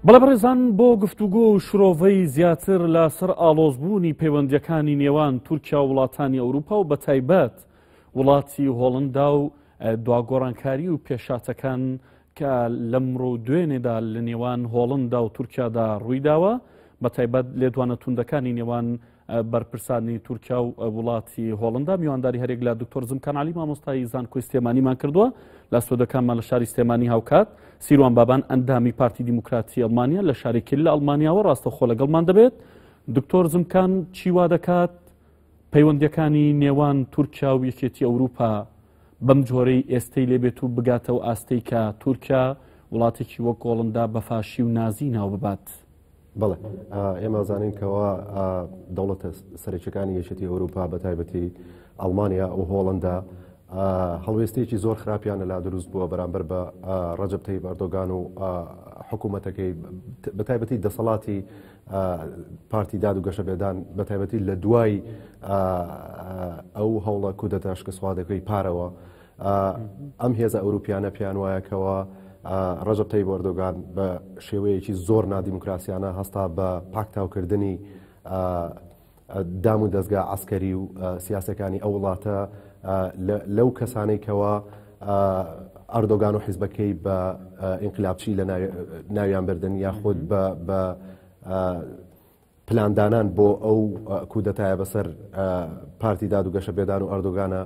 بەڵێ بەڕێزان بۆ گفتوگۆ و شرۆڤەی زیاتر لە سەر ئاڵۆزبوونی پەیوەندیەکانی نێوان تورکیا و وڵاتانی ئەوروپا و بە تایبەت وڵاتی هۆڵندا و دواگۆڕانکاری و پێشاتەکان کە لەمڕۆ دوێنێدا لە نێوان هۆڵندا و تورکیادا ڕوویداوە بە تایبەت لێدوانە توندەکانی نێوان بەرپرسانی تورکیا و وڵاتی هۆڵندا میوانداری هەرێک لە دکتۆر زمکان علی مامۆستای زانکۆی سلێمانیمان کردووە لە سۆدەکانمان لە شاری سلێمانی هاوکات سیروان بابان ئەندامی پارتی دیموکراتی ئەڵمانیا لە شارێکی لە ئەڵمانیاوە ڕاستەخۆ لەگەڵمان دەبێت دکتۆر زمکان چیوا دەکات پەیوەندەکانی نێوان تورکیا و یەکێتی ئەوروپا بەم جۆرەی ئێستەی لێبێت و بگاتەوە ئاستەی کە تورکیا وڵاتێکی وەک گۆڵندا بەفاشی و نازی ناو ببات. بەڵێ ئێمە زانین کەەوە دەوڵەتە سەرچەکانی یەشتی ئەوروپا بە تایبەتی ئەڵمانیا و هۆڵندا هەڵوێستێکی زۆر خراپیان لەلا دروست بووە بەرامبەر بە ڕەجب تەی بەردۆگان و حکوومەتەکەی بە تایبەتی دەسەڵاتی پارتی داد و گەشەبێدان بە تایبەتی لە دوای ئەو هەوڵە کودەتاشکە سوادەکەی پارەوە ئەم هێزە ئەوروپیانە پێیان وایەکەوە ڕژب تەی بۆردۆگان بە شێوەیەکی زۆر نادیموکراسیانە هەستا بە پاکتاوکردنی دام و دەستگا ئاسکەری و سیاسەکانی ئەو وڵاتە لەو کەسانەی کەەوە ئەردۆگان و حیزبەکەی بە ئینقلابچی لە ناویان بردن یاخود بە پلاندانان بۆ ئەو کودەتایە بەسەر پارتی داد و گەشە بێدان و ئەردۆگانە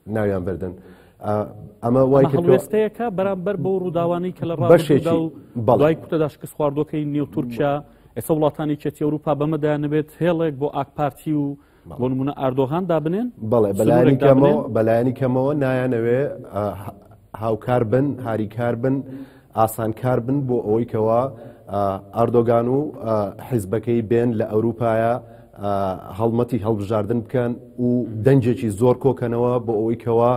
ناویان بردن. ئەمە وای هەڵوێستەیەەکە بەرامبەر بۆ ڕووداوانی کە لە ڕاشێدا و بەڵای کوتەدا شکست خواردۆکەی نێو تورکیا ئێستا وڵاتانی چێتی ئەوروپا بەمەدایانەبێت هێڵێک بۆ ئاکپارتی و بۆ نمونە ئاردۆغان دابنێن بەڵێ بەلایانی کەمەوە بەلایانی کەمەوە نایانەوێ هاوکار بن هاریکار بن ئاسانکار بن بۆ ئەوەی کەەوە ئاردۆگان و حیزبەکەی بێن لە ئەوروپایە هەڵمەتی هەڵبژاردن بکەن و دەنجێکی زۆر کۆکەنەوە بۆ ئەوەی کەەوە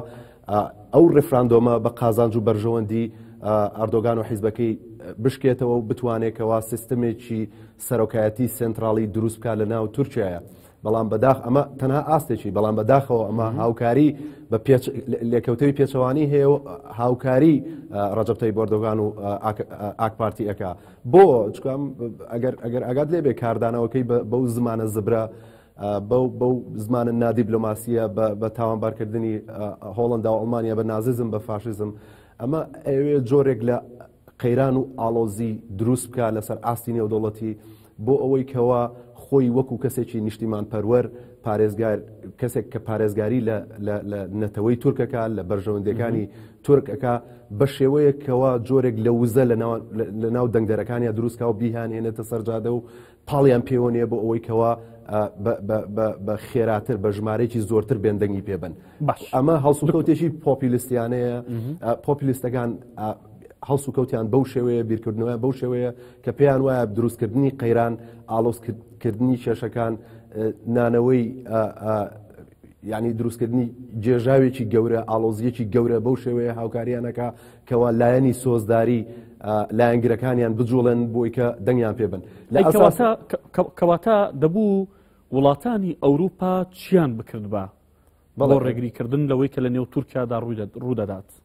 ئەو ڕفراندۆمە بە قازانج و بەرژەوەندی ئاردۆگان و حیزبەکەی بشکێتەوە و بتوانێتەوە سیستمێکی سەرۆکایەتی سێنتراڵی دروست بکات لە ناو تورکیایە بەڵام بەداخ ئەمە تەنها ئاستێکی بەڵام بەداخەوە ئەمە هاوکاری بە لێکەوتەوی پێچەوانی هەیە و هاوکاری ڕەجبتەی بردۆگان و ئاکپارتی ئەەکە بۆ چکم ئەگەر ئەگەر ئەگات لێبێ کاردانەوەکەی بەو زمانە زبرە بەو بەو زمانە نادیبلۆماسیە بە تاوانبارکردنی هۆڵندا و ئەڵمانیا بە نازیزم بە فاشیزم ئەمە ئەوێ جۆرێک لە قەیران و ئاڵۆزی دروست بکات لەسەر ئاستی نێودەوڵەتی بۆ ئەوەی کەوا خۆی وەکو کەسێکی نیشتیمان پەروەر پارێزگار کەسێک کە پارێزگاری لە نەتەوەی تورکەکە لە بەرژەوەندەکانی تورکەکە بە شێوەیەکەوە جۆرێک لە وزە لە ناو دەنگدەرەکانیان دروستکە و بیهان هێنێتە سەرجادە و پاڵیان پێوە نیە بۆ ئەوەی کەوا بە خێراتر بە ژمارەێکی زۆرتر بێن دەنگی پێ بن ئەمە هەڵسوکەوتێکی پۆپیلیستیانەیە پۆپیلیستەکان هەڵسو کەوتیان بەو شێوەیە بیرکردنەوە بەو شێوەیە کە پێیان وایە دروستکردنی قەیران ئالۆزکردنی کێشەکان نانەوەی یانی دروستکردنی گێژاوێکی گەورە ئاڵۆزیەکی گەورە بەو شێوەیە هاوکاریانەکە کەوا لایەنی سۆزداری لایەنگرەکانیان بجوڵێن بۆی کە دەنگیان پێبن کەواتە دەبوو وڵاتانی ئەوروپا چیان بکرد بە بەڵۆ ڕێگریکردن لەوەی کە لە نێو تورکیادا ڕوودەدات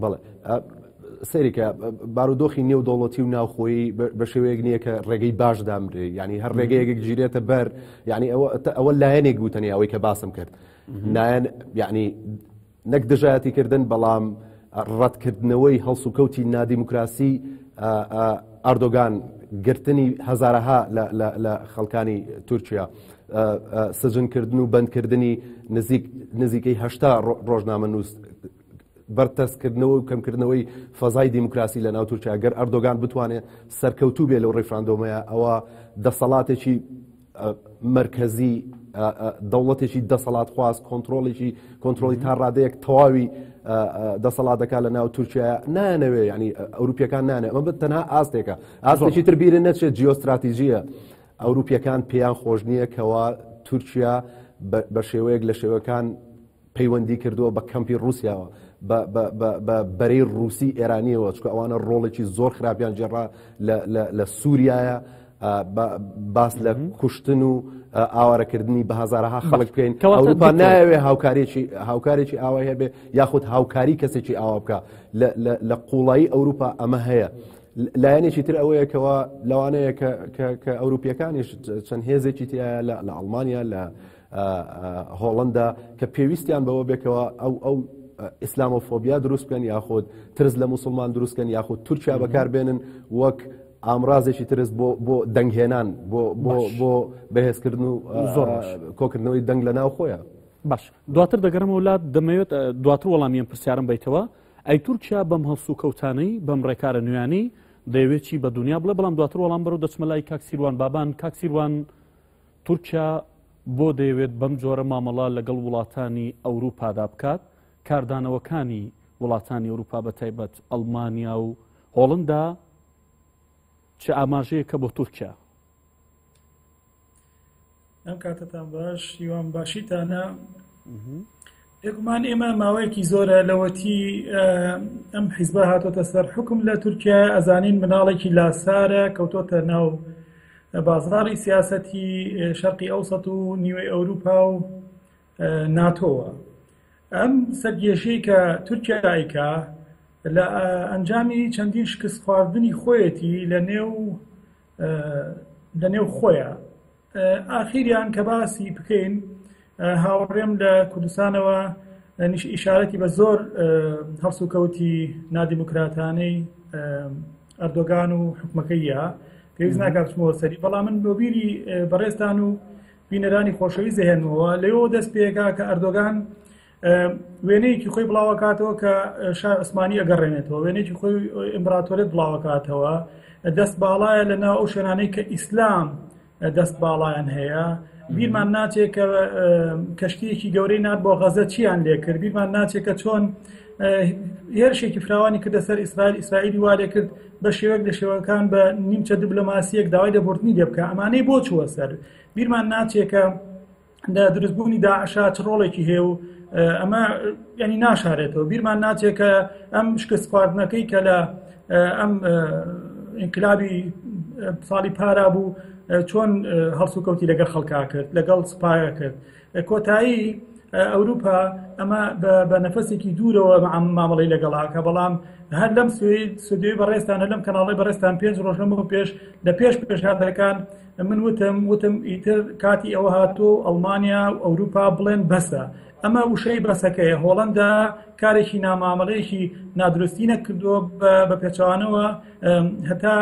بەڵێ سەیرکە بارودۆخی نێو دەوڵەتی و ناوخۆی بە شێوەیەک نییە کە ڕێگەی باش دامرێ ینی هەر ڕێگەیەک گیرێتە بەر ینی ئەوە ئەوە لایەنێک بوتەنی ئەوەی کە باسم کرد نایەن یعنی نەک دژایەتی کردن بەڵام ڕەتکردنەوەی هەڵس و کەوتی نادیموکراسی ئاردۆگان گرتنی هەزارەها لە خەڵکانی تورکیا سجنکردن و بەندکردنی نزیکەی هەشتا ڕۆژنامە نووس بەرتەسکردنەوە و کەمکردنەوەی فەزای دیموکراسی لە ناو تورکیا گەر ئەردۆگان بتوانێت سەرکەوتوو بێ لەو ڕیفراندۆمەیە ئەوە دەسەڵاتێکی مرکزی دەوڵەتێکی دەسەڵات خواست کۆنتترۆڵێکی کۆنتترۆلی تا ڕادەیەک تەواوی دەسەڵاتەکە لە ناو تورکیا نانەوێ ینی ئەوروپیەکان نانێ ئەمە بە تەنها ئاستێکە ئاستێکی تربیرە نەچێت جیۆستراتیژیە ئەوروپیەکان پێیان خۆش نییە کەوا تورکیا بە شێوەیەک لە شێوەکان پەیوەندی کردووە بە کەمپی رووسیاوە بە بەرەی رووسی ئێرانیەوە چکە ئەوانە ڕۆڵێکی زۆر خراپیان جێڕا لە سووریایە باس لە کوشتن و ئاوارەکردنی بە هزارها خەڵک بکەین ئەوروپا ناوێ هاوکارێکی هاوکارێکی ئاوای هەبێ یاخود هاوکاری کەسێکی ئاوا بکە لە قوڵایی ئەوروپا ئەمە هەیە. لایەنێکی تر ئەوەیەکەوە لەوانەیە کە ئەوروپیەکانیش چەند هێزێکی تایە لە ئەڵمانیا لە هۆڵندا کە پێویستیان بەوە بێکەوە ئەو ئەو ئیسلام و فۆبیا دروستکەن یاخود ترس لە مسلمان دروستکەن یاخود تورکیا بەکاربێنن وەک ئامرازێکی ترس بۆ بۆ دەنگهێنان بۆ بۆ بۆ بەهێزکردن و زۆر کۆکردنەوەی دەنگ لە ناو خۆیان باش دواتر دەگەرمە وڵات دەمەوێت دواتر وەڵامیان پرسیارم بیتەوە ئەی تورکیا بەم هەڵسو کەوتانەی بەم ڕێکارە نوێیانی دەیەوێتی بە دنیا بڵێ بەڵام دواتر وەڵام بەرەو دەچمە لای کاکسیروان بابان کاکسیروان تورکیا بۆ دەیەوێت بەم جۆرە مامەڵە لەگەڵ وڵاتانی ئەوروپادا بکات، کاردانەوەکانی وڵاتانی ئەوروپا بە تایبەت ئەڵمانیا و هۆڵندا چ ئاماژەیەکە بۆ تورکیا؟ ئەم کاتتان باش هیوام باشیتانە بێگومان ئێمە ماوەیەکی زۆرە لەوەتی ئەم حیزبە هاتۆتە سەر حکم لە تورکیا ئەزانین مناڵێکی لاسارە کەوتۆتە ناو بازاری سیاسەتی شەرقی ئەوسەت و نیوەی ئەوروپا و ناتۆوە ئەم سەرگێشەی کە تورکیا ئایکا لە ئەنجامی چەندین شکست خواردنی خۆیەتی لە نێو لە نێو خۆیان ئاخیریان کە باسی بکەین هاوڕێم لە کوردستانەوە نیش ئیشارەتی بە زۆر هەڵسوکەوتی نادیموکراتانەی ئەردۆگان و حکومەکەیە پێویست ناکاتمەوە سەری بەڵام من بۆبیری بەڕێستان و بینەرانی خۆشەوی زەهێنەوە لەوە دەست پێکا کە ئەردۆگان وێنەیەکی خۆی بڵاوەکاتەوە کە شار عوسمانی ئەگەڕێنێتەوە وێنێکی خۆی ئیمبراتۆرێت بڵاوەکاتەوە دەست باڵایە لە ناو ئەو شوێنانەی کە ئیسلام دەست باڵایان هەیە بیرمان ناچێت کە کەشتیەکی گەورەی نات بۆ غەزە چیان لێکرد بیرمان ناچێت کە چۆن هێرشێکی فراوانی کردە سەر ئیسرائیل ئیسرائیلی والێ کرد بە شێوەک لە شێوەکان بە نیمچە دیبلۆماسیەک داوای دەبردنی لێ بکە ئەمانەی بۆ چووە سەر بیرمان ناچێکە لە دروستبوونی داعشا چ ڕۆڵێکی هەیە و ئەمە ینی ناشارێتەوە بیرمان ناچێت کە ئەم شکست خواردنەکەی کە لە ئەم ئینکلابی ساڵی پارا بوو چۆن هەڵسوکەوتی لەگەڵ خەڵکا کرد لەگەڵ سپایە کرد کۆتایی ئەوروپا ئەمە بە نەفەسێکی دوورەوە مامەڵی لەگەڵاکە بەڵام هەر لەم سوێ سودێ بەڕێستان لەم کەناڵی بەڕێستان پێنج ڕۆژەمە پێش لە پێش پێشهاتەکان من وتم وتم ئیتر کاتی ئەوە هاتۆ ئەڵمانیا و ئەوروپا بڵێن بەسە ئەمە وشەی بەسەکەیە هۆڵندا کارێکی نامامەڵەیەکی نادرستی نەکردووە بە پێچوانەوە هەتا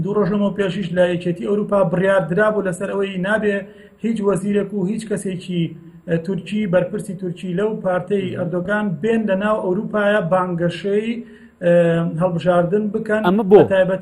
دوو ڕۆژەمە پێشیش لە یەکێتی ئەوروپا بڕیار درا بوو لەسەر ئەوەی نابێ هیچ وەزیرێک و هیچ کەسێکی تورکی بەرپرسی تورکی لەو پارتەی ئەردۆگان بێن لە ناو ئەوروپایە بانگەشەی هەڵبژاردن بکەن ئەمە بۆ تایبەت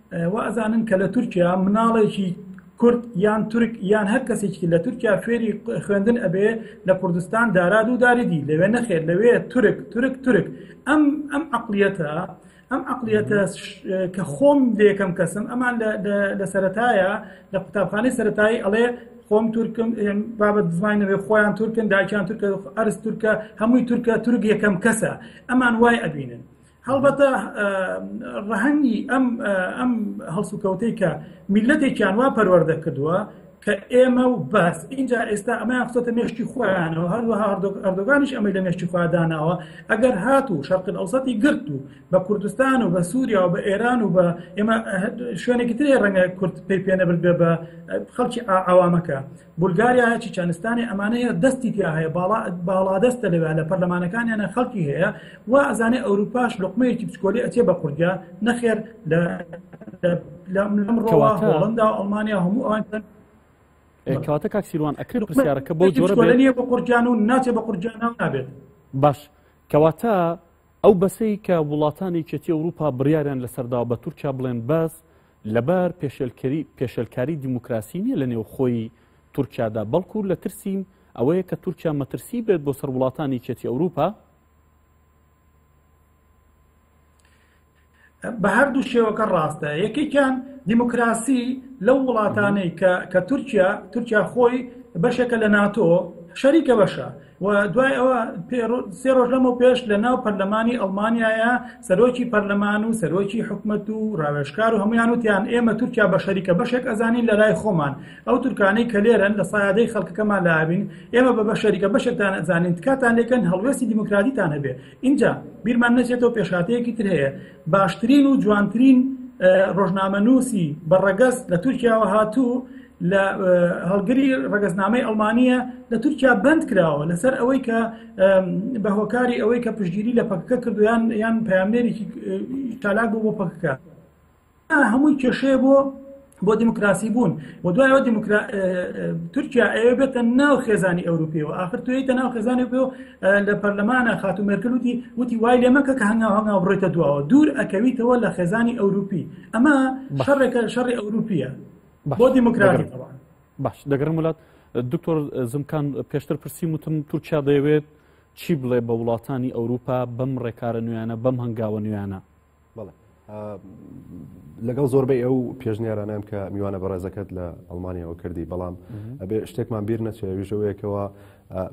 وازانن کە لە تورکیا مناڵێکی کورد یان تورک یان هەر کەسێکی لە تورکیا فێری خوێندن ئەبێ لە کوردستان داراد و داریدی لەوێ نەخێت لەوێ تورک تورک تورک ئەم ئەم عقلیەتە ئەم عقلیەتە کە خۆم دێکەم کەسم ئەمان لە سەتایە لە قوتابخانەی سەتایی ئەڵێ خۆم تورکم بابەت زمانەوێ خۆیان تورکن داکیان تورکە ئەرز تورکە هەمووی تورکە تورک یەکەم کەسە ئەمان وای ئەبینن هەڵبەتە ڕەهەنگی ئەم ئەم هەڵسوکەوتەی کە میلەتێکیان وا پەروەەردە کردووە کە ئێمە و بەس اینجا ئێستا ئەمەیان خۆتە مێشتی خۆیانەوە هەروەها ئەردۆگانیش ئەمەی لە مێشتی خواداناوە ئەگەر هات و شەرقن ئەوسەتی گرت و بە کوردستان و بە سووریا و بە ئێران و بە ئێمە شوێنێکی ترێ ڕەنگە کورد پێی پێنەبرد بێ بە خەڵکی ئاوامەکە بولگاریا هەیە چیچانستانێ ئەمانە هەیە دەستی تیا هەیە باڵا باڵادەستە لەوێ لە پەرلەمانەکانیانە خەڵکی هەیە و ئەزانێ ئەوروپاش لقمەیەکی پسکۆلی ئەچێ بە قورگە نەخێر لە لەمڕەوە هۆڵندا و ئەڵمانیا هەموو ئەوان کەواتە کاکسیروان ئەکرد پرسیارەکە بۆ جۆرە بە قورجان و ناچێ بە قورجان نابێت باش کەواتە ئەو بەسەی کە وڵاتانی چێتی ئەوروپا بڕیاریان لەسەردا بە تورکیا بڵێن بەس لەبەر پێشێلکاری دیموکراسی نییە لە نێوخۆی تورکیادا بەڵکو لە ترسیم ئەوەیە کە تورکیا مەترسی بێت بۆ سەر وڵاتانی چێتی ئەوروپا بە هەردوو شێوەکە ڕاستە یەکێکیان دیموکراسی لەو وڵاتانەی کە کە تورکیا تورکیا خۆی بەشێکە لە ناتۆ شەریکە بەشە و دوای ئەوە سێ ڕۆژ لەمە پێش لە ناو پەرلەمانی ئەڵمانایە سەرۆکی پەرلەمان و سەرۆکی حکومت و ڕاوێشکار و هەمویان وتیان ئێمە تورکیا بە شەریکە بەشێک ئەزانین لە لای خۆمان ئەو تورکانەی کە لێرن لە سایادەی خەڵکەکەمان لابین ئێمە بە بە شەریکە بەشێکتان ئەزانین تکاتان لێکن هەڵوێستی دیموکراتیتان هەبێ اینجا بیرمان نەچێتەوە پێشاتەیەکی تر هەیە باشترین و جوانترین ڕۆژنامە نووسی بە ڕەگەز لە تورکیاوە هاتوو لە هەڵگری ڕگەزنامەی ئەڵمانیە لە تورکیا بند کراوە لەسەر ئەوەی کە بە هۆکاری ئەوەی کە پشتگیری لە پەکەکە کردویان یان پامێرێکی تالاک بوو بۆ پەکەکە هەمووی کێشەیە بۆ بۆ دیموکراسی بوون و دوایەوە تورکیا ئەوێ بێتە ناو خێزانی ئەوروپیەوە آخر توێتە ناو خێزانانی پێ لە پەرلەمانە خاتو مێرکلوتی وتی وای لێ مەکە کە هەنگاو هەنگاو بڕێتە دواوە دوور ئەکەویتەوە لە خێزانی ئەوروپی ئەمە شەڕێکە شەڕی ئەوروپیە بۆ دیموکراتی تەوان باش دەگەڕم وڵات دکتۆر زمکان پێشتر پرسی وتم تورکیا دەیەوێت چی بڵێ بە وڵاتانی ئەوروپا بەم ڕێکارە نوێیانە بەم هەنگاوە نوێیانە بڵێ لەگەڵ زۆربەی ئەو پێشنیارانم کە میوانە بەڕێزەکەت لە ئەڵمانیاەوە کردی بەڵام ئەبێ شتێکمان بیر نەچێ ویژەوەیەکەوە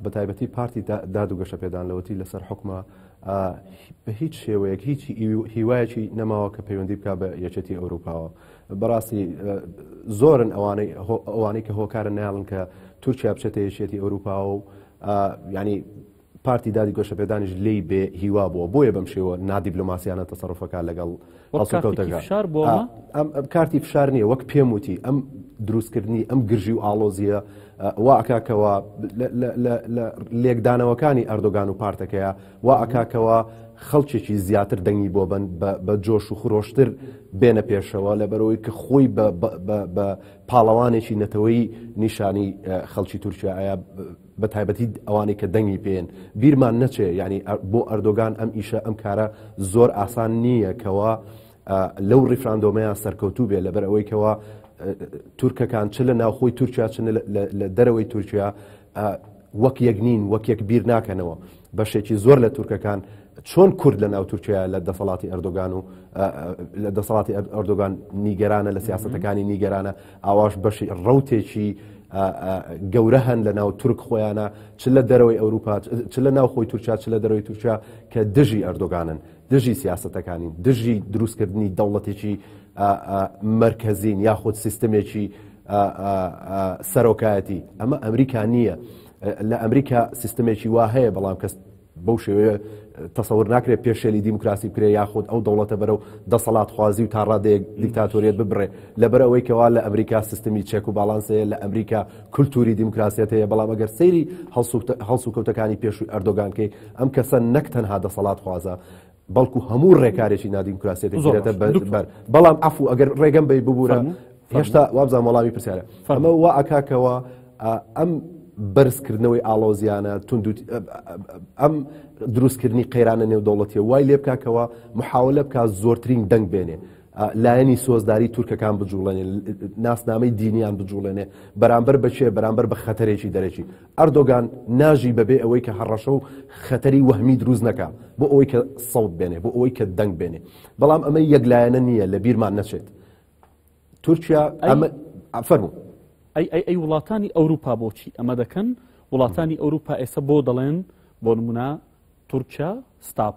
بە تایبەتی پارتی داد و گەشە پێدان لەوەتی لەسەر حکومە بە هیچ شێوەیەک هیچی هیوایەکی نەماوە کە پەیوەندی بک بە یەکێتی ئەوروپاوە بەڕاستی زۆرن ئەوانەی ئەوانەی کە هۆکارە ناڵن کە تورکیا بچێتە یەکێتی ئەوروپا و ینی پارتی دادی گۆشەپێدانیش لی بێ هیوا بووە بۆیە بەم شێوە نادیبلوماسیانە تەسەڕفەکە لەگەڵ شار بۆ ئەم کارتی فشار نییە وەک پێم وتی ئەم دروستکردنی ئەم گرژی و ئاڵۆزیە واکەکەەوە لە لێکدانەوەکانی ئەردۆگان و پارتەکەیە وا ئەکا کەوا خەڵکێکی زیاتر دەنگی بۆ بەن بە جۆش و خرۆشتر بێنە پێشەوە لە بەرەوەی کە خۆی بە پاڵەوانێکی نەتەوەی نیشانی خەڵکی تورکیاە بە تایبەتی ئەوانەی کە دەنگی پێن بیرمان نەچێ ینی بۆ ئەردۆگان ئەم ئیشە ئەم کارە زۆر ئاسان نییە کەەوە لەو ڕیفراندۆمەیان سەرکەوتوو بێ لەبەر ئەوەی کەەوە تورکەکان چ لە ناوخۆی تورکیا چ لە دەرەوەی تورکیا وەک یەک نین، وەک یەک بیر ناکەنەوە. بەشێکی زۆر لە تورکەکان چۆن کورد لە ناو تورکیا لە دەسەڵاتی ئەردۆگان و لە دەسەڵاتی ئەردۆگان نیگەرانە لە سیاستەکانی نیگەرانە ئاواش بەشی ڕوتێکی گەورە هەن لە ناو تورک خۆیانە چ لە دەرەوەی ئەوروپا چ لە ناو خۆی تورکیا چ لە دەرەوەی تورکیا کە دژی ئەردۆگانن دژی سیاسەتەکانین دژی دروستکردنی دەوڵەتێکی مرکزین یاخود سیستمێکی سەرۆکایەتی ئەمە ئەمریکا نییە لە ئەمریکا سیستمێکی وا هەیە بەڵام کەس بەو شێوەیە تەسەور ناکرێت پێشێلی دیموکراسی بکرێ یاخود ئەو دەوڵەتە بەرە و دەسەڵات خوازی و تا ڕادەیەک دیکتاتۆریت ببڕێ لەبەر ئەوەی کەوا لە ئەمریکا سیستمی چێک و باڵانسەیە لە ئەمریکا کولتوری دیموکراسیەت هەیە بەڵام ئەگەر سەیری هەڵسوکەوتەکانی پێشووی ئەردۆگانکەی ئەم کەسە نەک تەنها دەسەڵات خوازە بەڵکو هەموو ڕێکارێکی نادیموکراسی دەگیرێتە بەر بەڵام ئەفو ئەگەر ڕێگەم بی ببوورە هێشتا وابزان وەڵامی پرسیارە فەرمە وا ئەکاکەوە ئەم بەرزکردنەوەی ئاڵۆزیانە تونند ئەم دروستکردنی قەیرانە نێودەوڵەتیە وای لێ بکاکەوە محاولە بک زۆرترین دەنگ بێنێ لایەنی سۆزداری تورکەکان بجوڵێنێ ناسنامەی دینیان بجوڵێنێ بەرامبەر بەچێ بەرامبەر بە خەتەرێکی دەرەکی ئەردۆگان ناژی بەبێ ئەوەی کە هەڕەشە و خەتەری وەهمی دروست نەکا بۆ ئەوەی کە سەوت بێنێ بۆ ئەوەی کە دەنگ بێنێ بەڵام ئەمە یەک لایەنە نییە لە بیرمان نەچێت تورکیا ئەمە ئەفەرمو ئەی ئەی ئەی وڵاتانی ئەوروپا بۆچی ئەمە دەکەن وڵاتانی ئەوروپا ئێستا بۆ دەڵێن بۆ نمونە تورکیا ستاپ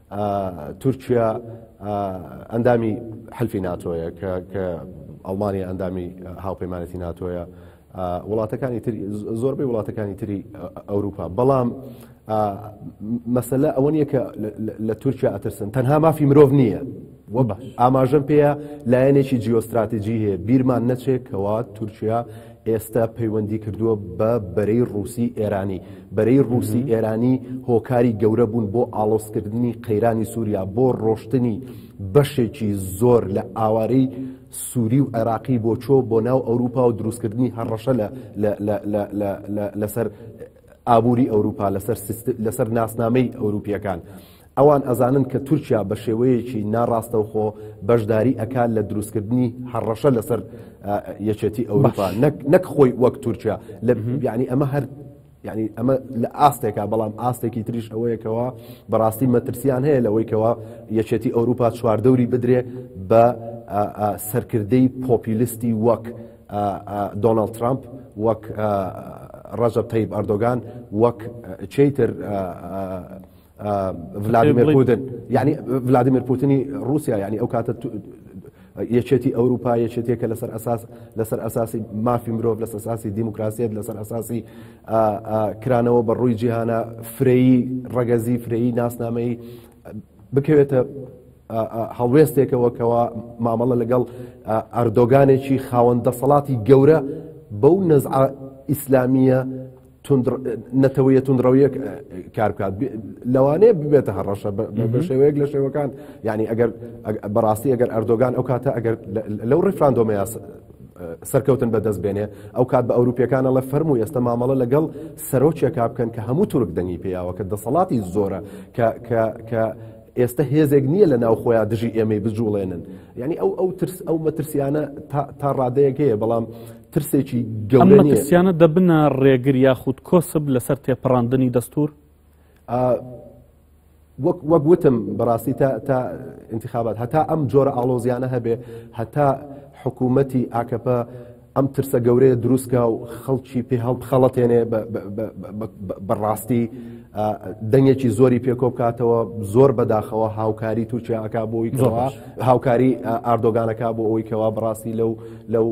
تورکیا ئەندامی حلفی ناتۆیە کە ئەڵمانیا ئەندامی هاوپەیمانەتی ناتۆیە وڵاتەکانی تری زۆربەی وڵاتەکانی تری ئەوروپا بەڵام مەسلە ئەوە نیە کە لە تورکیا ئەترسن تەنها مافی مرۆڤ نییە وە باش ئاماژەم پێەیە لایەنێکی جیۆستراتیجی هەیە بیرمان نەچێت کەوا تورکیا ئێستا پەیوەندی کردووە بە بەرەی ڕووسی ئێرانی بەرەی ڕووسی ئێرانی هۆکاری گەورە بوون بۆ ئاڵۆسکردنی قەیرانی سووریا بۆ ڕۆشتنی بەشێکی زۆر لە ئاوارەی سووری و عێراقی بۆ چۆ بۆ ناو ئەوروپا و دروستکردنی هەڕەشە لەسەر ئابووری ئەوروپا لەسەر ناسنامەی ئەوروپیەکان. ئەوان ئەزانن کە تورکیا بە شێوەیەکی ناڕاستەوخۆ بەشداری ئەکات لە دروستکردنی هەڕەشە لەسەر یەکێتی ئەوروپا نەک خۆی وەک تورکیا لە بیانی ئەمە هەر یعنی ئەمە لە ئاستێکا بەڵام ئاستێکی تریش ئەوەیەکەوە بەڕاستی مەترسیان هەیە لەوەیکەوە یەکێتی ئەوروپا چواردەوری بدرێ بە سەرکردەی پۆپیلیستی وەک دۆناالد ترامپ وەک ڕەجە تەیب ئەردۆگان وەک چیتر ڤلادیمێر پوتن یعنی ڤلادیمێر پوتنی رووسیا یعنی ئەو کاتە یەکێتی ئەوروپا یەکێتێکە لەسەر ئەساس لەسەر ئەساسی مافی مرۆڤ لەسەر ئەساسی دیموکراسیت لەسەر ئەساسی کرانەوە بە ڕووی جیهانە فرەیی ڕەگەزی فرەیی ناسنامەی بکەوێتە هەڵوێستێکەوە کەەوە مامەڵە لەگەڵ ئەردۆگانێکی خاوەن دەسەڵاتی گەورە بەو نەزع ئیسلامیە نەتەوەیە تونندڕەویە کار بکات لەوانەیە ببێتە هەڕەشە بە شێوەیەک لە شێوەکان ینی ئەگەر بەڕاستی ئەگەر ئەردۆگان ئەو کاتە ئەگەر لەو ڕفراندۆمەیە سەرکەوتن بەدەست بێنێ ئەو کات بە ئەوروپیەکانە لە فەرم و ئێستا مامەڵە لەگەڵ سەرۆکێکا بکەن کە هەموو تورک دەنگی پیاوە کە دەسەڵاتی زۆرە کە ئێستا هێزێک نییە لە ناو خۆیان دژی ئێمەی بجوڵێنن یعنی ئەو ئەو ترس ئەو مەترسیانە تا ڕادەیەک هەیە بەڵام ترسێکی گەورە نیە. ئەم مەترسیانە دەبنە ڕێگر یاخود کۆسب لەسەر تێپەڕاندنی دەستور؟ وەک وەک وتم بەڕاستی تا تا انتخابات هەتا ئەم جۆرە ئاڵۆزیانە هەبێ هەتا حکوومەتی ئاکەپە ئەم ترسە گەورەیە دروستکە و خەڵکی پێ هەڵ بخەڵەتێنێ بەڕاستی دەنگێکی زۆری پێکۆ بکاتەوە زۆر بەداخەوە هاوکاری تووچیاکە بۆی هاوکاری ئاردۆگانەکە بۆ ئەوی کەوا بڕاستی لەو لەو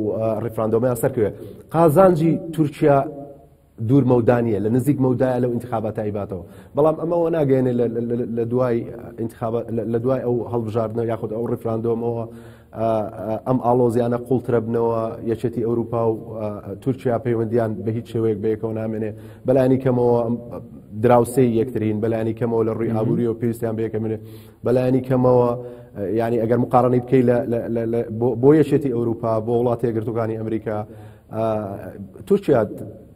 ڕیفراندۆمەیان سەرکەوێت قازانجی تورکیا دوور مەودانە لە نزیک مەودای لەو انتخاباتە ئیباتەوە بەڵام ئەمەەوە ناگەێنێ لە دوای لە دوای ئەو هەڵبژاردنە یاخود ئەو ڕفراندۆمەوە ئەم ئاڵۆزیانە قوڵترە بنەوە یەکێتی ئەوروپا و تورکیا پەیوەندیان بە هیچ شێوەیەک بەیەکەوە نامێنێ بەلانی کەمەوە دراوسێ یەکترین بەلانی کەمەوە لە ڕووی ئابووری و پێویستیان بەیەکەمێنێ بەلایەنی کەمەوە ینی ئەگەر مقارنەی بکەیت بۆ یەشێتی ئەوروپا بۆ وڵاتی گرتوەکانی ئەمریکا تورکیا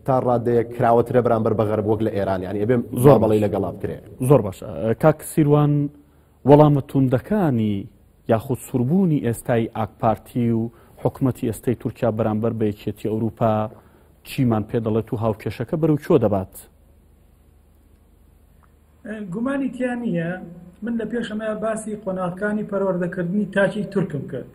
تا ڕادەیە کراوەترە بەرامبەر بەغەر وەک لە ئێران ینی ئەبێ زۆر بەڵی لەگەڵا بکرێ زۆر باش کاک سیروان وەڵامە توندەکانی یاخود سوربوونی ئێستای ئاکپارتی و حکوومەتی ئێستای تورکیا بەرامبەر بە یەکێتی ئەوروپا چیمان پێ دەڵێت و هاوکێشەکە بەرەو چۆ دەبات گومانی تیا نییە من لە پێشەمە باسی قۆناغکانی پەروەردەکردنی تاکی تورکم کرد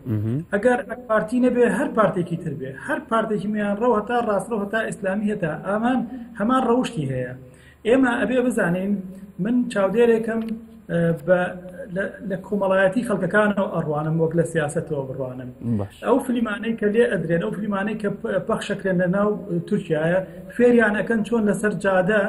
ئەگەر پارتی نەبێ هەر پارتێکی تر بێ هەر پارتێکی میان ڕەو هەتا ڕاستڕە هەتا ئیسلامی هەتا ئامان هەمان ڕەوشی هەیە ئێمە ئەبێ بزانین من چاودێرێکم بە لە کۆمەڵایەتی خەڵکەکانەوە ئەڕوانم وەک لە سیاستەوە بڕوانم ئەو فلیمانەی کە لێ ئەدرێن ئەو فلیمانەی کە پەخشەکرێن لە ناو تورکایە فێریانەکەن چۆن لەسەر جادە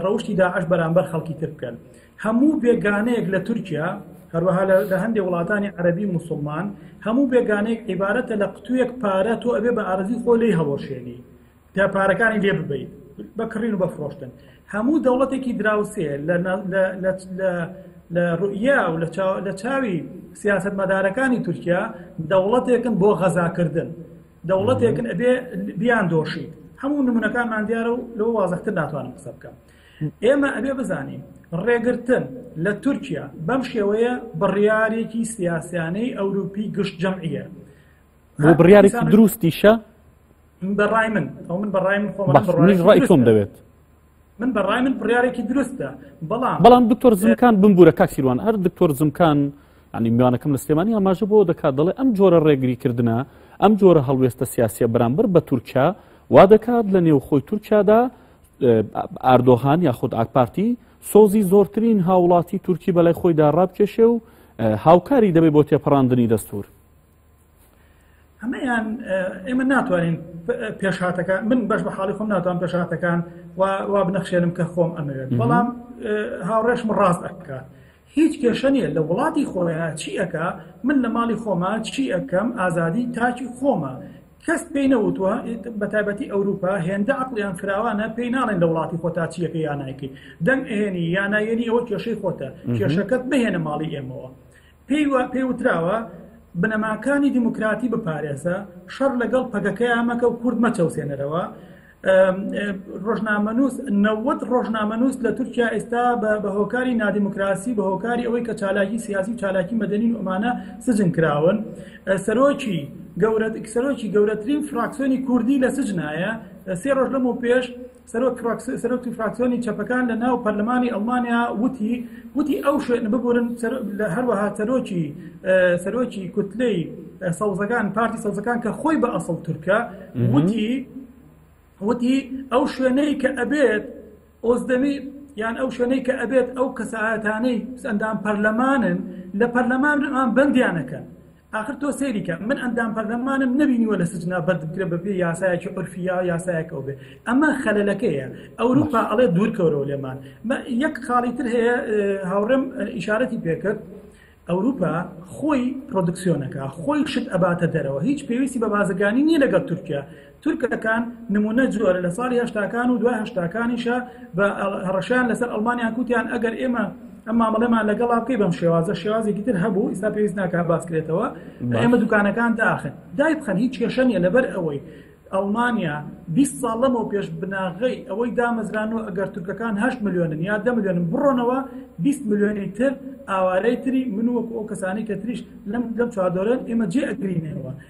ڕەوشی داعش بەرامبەر خەڵکی تر بکەن هەموو بێگانەیەک لە تورکیا هەروەها لە هەندێک وڵاتانی عەربی مسلمان هەموو بێگانێک عیبارەتە لە قوتوێک پارە تۆ ئەبێ بە ئارزی خۆ لی هەڵۆشێنی تا پارەکانی لێ ببیت بەکڕین و بەفرۆشتن هەموو دەوڵەتێکی دراوسێ لە ڕوئیا و لە چاوی سیاست مەدارەکانی تورکیا دەوڵەتێکن بۆ غەزاکردن دەوڵەتێکن ئەبێ بیان دۆشیت هەموو نمونونەکانمان دیارە و لەوە وازەختر ناتوانم قسە بکەم ئێمە ئەبێ بزانین ڕێگرتن لە تورکیا بەم شێوەیە بڕیارێکی سیاسیانەی ئەوروپی گشت جەمعە بۆ بڕیارێکی دروستیشە بەڕای من ئەو من بەڕای من خۆم ڕای خۆم دەوێت من بەڕای من بڕارێکی دروستە بەڵام بەڵام دکتۆر زمکان بمبورە کاک سیروان هەر دکتۆر زمکان ینی میوانەکەم لە سلێمانی ئاماژە بۆ دەکات دەڵێ ئەم جۆرە ڕێگری کردنە ئەم جۆرە هەڵوێستە سیاسیە بەرامبەر بە تورکیا وا دەکات لە نێو خۆی تورکیادا ئاردۆغان یا خود ئاکپارتی سۆزی زۆرترین هاوڵاتی تورکی بەلای خۆیدا ڕابکێشێ و هاوکاری دەبێت بۆ تێپەڕاندنی دەستور ئەمەیان ئێمە ناتوانین پێشهاتەکە من بەش بە حاڵی خۆم ناتوان پێشهاتەکان وا بنەخشێنم کە خۆم ئەمەوێت بەڵام هاوڕێشم ڕاست ئەکات هیچ کێشە نیە لە وڵاتی خۆیان چیەکە من لە ماڵی خۆمە چی ئەەکەم ئازادی تاکی خۆمە کەس پێی نەوتوە بە تایبەتی ئەوروپا هێندە عقلیان فراوانە پێی ناڵێن لە وڵاتی خۆتا چیەکە یانایکەی دەنگ ئێنی یانایەنی ئەوە کێشەی خۆتە کێشەکەت بهێنە ماڵی ئێمەوە پێی وتراوە بنەماکانی دیموکراتی بپارێزە، شەڕ لەگەڵ پەکەکەیان مەکە و کورد مەچەوسێنەرەوە. ڕۆژنامەنووس نەوەد ڕۆژنامەنووس لە تورکیا ئێستا بە هۆکاری نادیموکراسی بە هۆکاری ئەوەی کە چالاکی سیاسی و چالاکی مەدەنین ئۆمانە سجن کراون سەرۆکی گەورە سەرۆکی گەورەترین فراکسۆنی کوردی لە سجنایە سێ ڕۆژ لەم و پێش سەرۆکی فراکسیۆنی چەپەکان لە ناو پەرلەمانی ئەڵمانیا وتی وتی ئەو شوێن ببورن هەروەها سەرۆکی سەرۆکی کوتلەی سەوزەکان پارتی سەوزەکان کە خۆی بە ئەسڵ تورکە وتی وتی ئەو شوێنەی کە ئەبێت ئۆزدەمی یان ئەو شوێنەی کە ئەبێت ئەو کەسایەتانەی ئەندام پەرلەمانن لە پەرلەمان بەندیانەکەن ئاخر تۆ سەیری کە من ئەندام پەرلەمانم نبینیوە لە سجنا بەردبکرە بەپێ یاسایەکی عرفیا و یاسایەکە بێ ئەمە خەلەلەکەیە ئەوروپا ئەڵێ دوورکەورەوە لێمان یەک خاڵی تر هەیە هاوڕێم ئیشارەتی پێکرد ئەوروپا خۆی پرۆدکسیۆنەکە خۆی شت ئەباتە دەرەوە هیچ پێویستی بە بازرگانی نییە لەگەڵ تورکیا تورکەکان نمونە جۆرە لە ساڵی هەشتاکان و دوای هەشتاکانیشە بە هەڕەشیان لەسەر ئەڵمانیان کوتیان ئەگەر ئێمە ئەم مامەڵەمان لەگەڵا بکەی بەم شێوازە شێوازێکی تر هەبوو ئیستا پێویست ناکە باسکرێتەوە ئێمە دوکانەکان داخن دای بخەن هیچ کێشە نیە لەبەر ئەوەی ئەڵمانیا 20 ساڵ لەمەوە پێش بناغی ئەوەی دامەزران و ئەگەر تورکەکان 8 میلیۆنن یا دە میلیۆنم بڕۆنەوە 20 میلیۆنی تر ئاوارەی تری من وەک ئەو کەسانی کە تریش لەم لەم چادۆرن ئێمە جێ ئەگرینەوە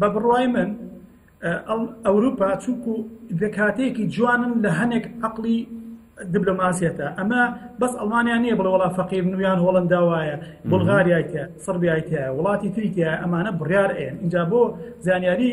بە بڕوای من ئەوروپا چونکو دەکاتێکی جوانن لە هەنێک عقلی دیبلۆماسیەتە ئەمە بەس ئەڵمانیا نییە بڵ وڵا فەقیر نویان هۆڵندا وایە بلغاریایتە سڕبیایتە وڵاتی تریتە ئەمانە بڕیار ئێن اینجا بۆ زانیاری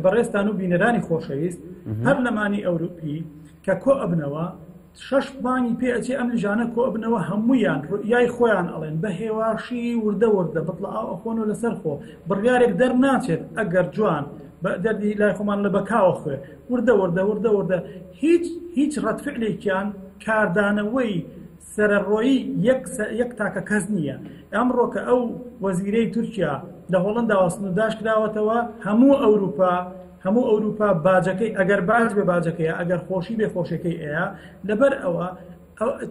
بەڕێستان و بینەرانی خۆشەویست هەر لەمانی ئەوروپی کە کۆ ئەبنەوە شەش پلانی پێ ئەچێ ئەم لجانە کۆ ئەبنەوە هەموویان ڕوئیای خۆیان ئەڵێن بە هێواشی وردە وردە بتڵە ئاو ئەخۆن و لەسەر خۆ بڕیارێک دەرناچێت ئەگەر جوان بە دەردی لای خۆمان لە بەکاوە خوێ وردە وردە وردە وردە هیچ هیچ ڕەتفعلێکیان کاردانەوەی سەرەڕۆیی یەک سە- یەک تاکە کەس نییە ئەمڕۆ کە ئەو وەزیرەی تورکیا لە هۆڵنداوە سنوورداش کراوەتەوە هەموو ئەوروپا هەموو ئەوروپا باجەکەی ئەگەر باج بێ باجەکەیە ئەگەر خۆشی بێ خۆشەکەی ئەیا لەبەر ئەوە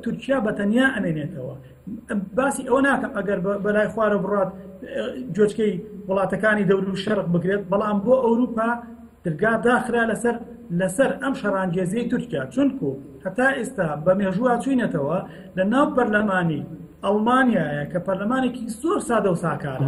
تورکیا بە تەنیا ئەمێنێتەوە باسی ئەوە ناکەم ئەگەر بەلای خوارە بڕات جۆچکەی وڵاتەکانی دەور و شەرق بکرێت بەڵام بۆ ئەوروپا درگا داخرا لەسەر لەسەر ئەم شەرانگێزیی تورکیا چونکو هەتا ئێستا بە مێژووە چوینەتەوە لە ناو پەرلەمانی ئەڵمانایە کە پەرلەمانێکی زۆر سادە و ساکارە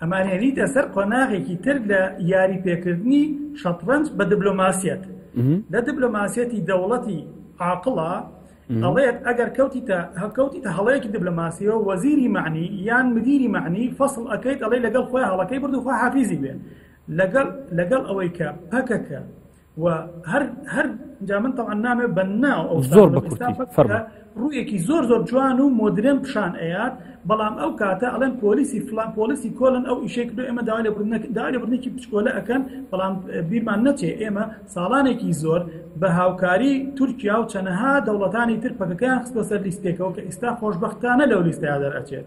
ئەمان هێنیتە سەر قۆناغێکی تر لە یاری پێکردنی شەتڕەنج بە دبلۆماسیەت لە دبلۆماسیەتی دەوڵەتی عاقڵە ئەڵێت ئەگەر کەوتیتە هەکەوتیتە هەڵەیەکی دبلۆماسیەوە وەزیری معنی یان مدیری معنی فەصل ئەەکەیت ئەڵێ لەگەڵ خۆی هەڵەکەی بردوخوا حافیزی بێ لەگەڵ لەگەڵ ئەوەی کە پەکەکە زۆر ڕوویەکی زۆر زۆر جوان و مۆدرێن پیشان ئەیات بەڵام ئەو کاتە ئەڵێن پۆلیسی فلان پۆلیسی کۆلن ئەو ئیشێک دو ئێمە داوا لەبردنێکی پچکۆلە ئەەکەن بەڵام بیرمان نەچێ ئێمە ساڵانێکی زۆر بە هاوکاری تورکیا و چەنەها دەوڵەتانی تر پەکەکەیان خستۆ سەر لیستێکەوە کە ئیستا خۆشببختانە لەو لیستەیە دەرئەچێت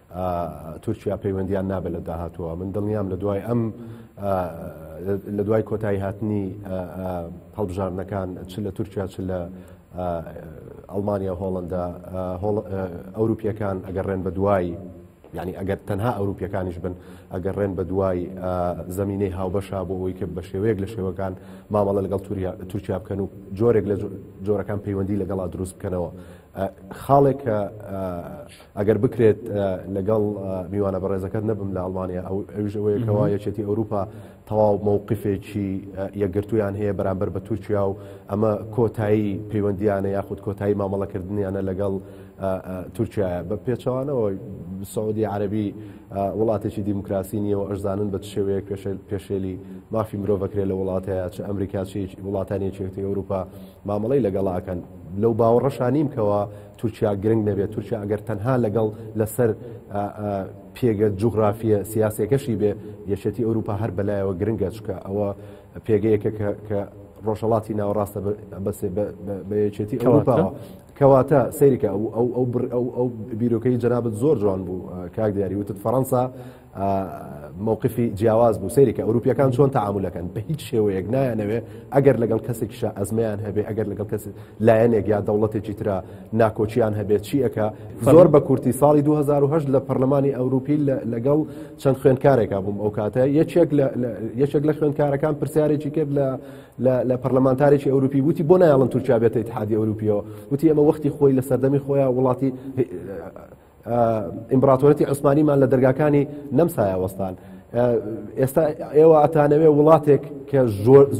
تورکیا پەیوەندیان نابێت لە داهاتووە من دڵنیام لە دوای ئەم لە دوای کۆتایی هاتنی هەڵبژاردنەکان چ لە تورکیا چ لە ئەڵمانیا هۆڵندا ئەوروپیەکان ئەگەر ڕێن بە دوای ینی ئەگەر تەنها ئەوروپیەکانیش بن ئەگەر ڕێن بە دوای زمینەی هاوبەشا بۆ ئەوی کرد بە شێوەیەک لە شێوەکان مامەڵە لەگەڵ تورکیا بکەن و جۆرێک لە جۆرەکان پەیوەندی لەگەڵا دروست بکەنەوە خاڵێک کە ئەگەر بکرێت لەگەڵ میوانە بەڕێزەکەت نەبم لە ئەڵمانیا ئەو ئەوژەوەیەکەوە یەکێتی ئەوروپا تەواو مووقفێکی یەکگرتویان هەیە بەرامبەر بە تورکیا و ئەمە کۆتایی پەیوەندیانە یاخود کۆتایی مامەڵەکردنیانە لەگەڵ تورکیا بە پێچوانەوە سعودی عربی وڵاتێکی دیموکراسی نیە و ئەرزانن بە شێوەیە پێشێلی مافی مرۆڤەکرێت لە وڵاتەیە چ ئەمریکاچی وڵاتانی چێتی ئەوروپا مامەڵی لەگەڵاکەن لەو باوەڕەشانیم کەەوە تورکیا گرنگ نەبێت تورکیا ئەگەر تەنها لەگەڵ لەسەر پێگە جوغرافیە سیاسەکەشی بێ یەکێتی ئەوروپا هەر بەلایەوە گرنگە چکە ئەوە پێگەیەکە کە ڕۆژەڵاتی ناوەڕاستە بەسێ بە یەکێتی ئەوروپاوە کەواتە سەیرکە ئەو ئەو ئەو ئەو بیرۆکەی جەنابەت زۆر جوان بوو کاک دیاری وتت فەەنسا مەوقفی جیاواز بوو سەیرێکە ئەوروپیەکان چۆن تعاملەکەن بە هیچ شێوەیەک نایانەوێ ئەگەر لەگەڵ کەسێکیشە ئەزمیان هەبێ ئەگەر لەگەڵ کەس لایەنێک یا دەوڵەتێکی تررا ناکۆچیان هەبێت چیەکە زۆر بە کورتی ساڵی 2010 لە پەرلەمانی ئەوروپی لەگەڵ چەند خوێندکارێکا بووم ئەو کاتە یەکێک یەکێک لە خوێندکارەکان پرسیارێکی کرد لە لە پەرلەمانتارێکی ئەوروپی وتی بۆ نایڵن تورکیا بێتە اتحادی ئەوروپیەوە وتی ئەمە وەختی خۆی لە سەردەمی خۆیان وڵاتی ئیمبراتۆرەتی عوسمانیمان لە دەرگاکانی نەمسایە وەستان ئێستا ئێوە ئەتانەوێ وڵاتێک کە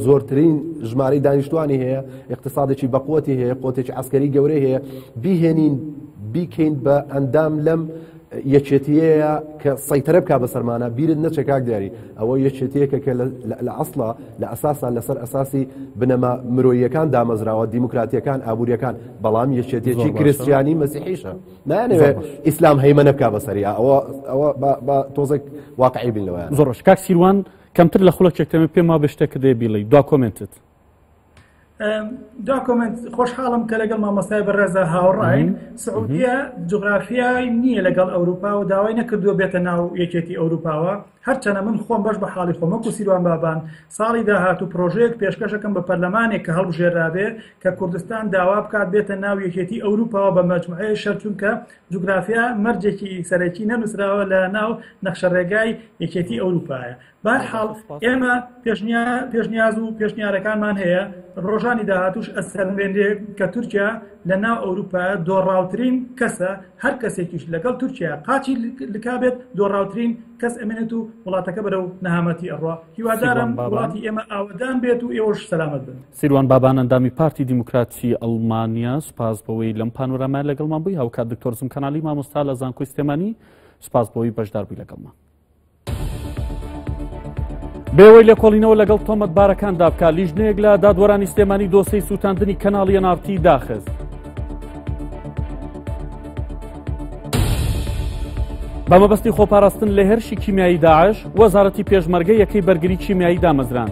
زۆرترین ژماری دانیشتوانی هەیە اقتصادێکی بەقوتی هەیە قوتێکی ئەسکەری گەورە هەیە بیهێنین بیکەین بە ئەندام لەم یەکێتیەیە کە سەیتەرە بک بە سەرمانە بیرت نەچێک کاک دیاری ئەوە یەکێتیەکە کە لە ئەسڵا لە ئەساسا لەسەر ئەساسی بنەما مرۆیەکان دامەزراوە دیموکراتیەکان ئابوووریەکان بەڵام یەکێتێکی کرستیانی مەسیحیشە. نانەوێت ئیسلام هەیمەە بک بە سەریا ئەوە ئەوە بە تۆزێک واقعی بین لەوە زۆرش کاک سیروان کەمتر لە خولەکێکتەمە پێما بشتە کە دێ بیڵی دو کۆمنتت دا کۆمنت خۆشحاڵم کە لەگەڵ مامۆستای بەڕێزە هاوڕین سعودیە جغرافیای نییە لەگەڵ ئەوروپا و داوای نەکردووە بێتە ناو یەکێتی ئەوروپاوە هەرچەنە من خۆم بەش بە حاڵی خۆم وەکو سیروان بابان ساڵی داهاتوو پرۆژەیەک پێشکەشەکەم بە پەرلەمانێک کە هەڵبژێرابێ کە کوردستان داوا بکات بێتە ناو یەکێتی ئەوروپاوە بە مەجموعەیە شەر چونکە جوگرافیا مەرجێکی سەرەکی نەنووسراوە لە ناو نەخشە ڕێگای یەکێتی ئەوروپایە بارحاڵ ئێمە پێشنیاز و پێشنیارەکانمان هەیە ڕۆژانی داهاتوش ئەسەنوێنێ کە تورکیا لە ناو ئەوروپایە دۆڕاوترین کەسە هەر کەسێکیش لەگەڵ تورکیا قاچی لکابێت دۆڕاوترین کەس ئەمێنێت و وڵاتەکە بەرە و نەهامەتی ئەڕوا هیوادارم وڵاتی ئێمە ئاوەدان بێت و ئێوەش سەلامت بن سیروان بابان ئەندامی پارتی دیموکراتی ئەڵمانیا سپاس بەوەی لەم پانۆرامای لەگەڵمان بووی هاوکات دکتۆرزم کەنالی مامۆستا لە زانکۆی سلێمانی سپاس بۆی بەشدار بووی لەگەڵمان بێوەی لێکۆڵینەوە لەگەڵ تۆمەتبارەکاندا بکە لیژنەیەک لە دادوەرانی سلێمانی دۆسەی سووتاندنی کەناڵی نارتی داخست. بە مەبەستی خۆپاراستن لە هێرشی کیمیایی داعش وەزارەتی پێشمەرگە یەکەی بەرگری کیمیایی دامەزران.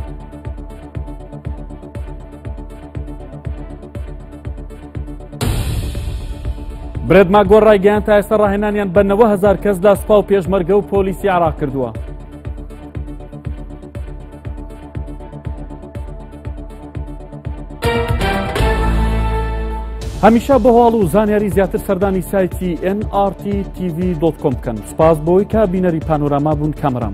برێد ماگۆر ڕایگەیان تا ئێستا ڕاهێنانیان بە 90 هزار کەس لە سپا و پێشمەرگە و پۆلیسی عراق کردووە هەمیشە بە هەواڵ و زانیاری زیاتر سەردانی سایتی NRT TV.com بکەن سپاس بۆی کە بینەری پانۆراما بوون کامران.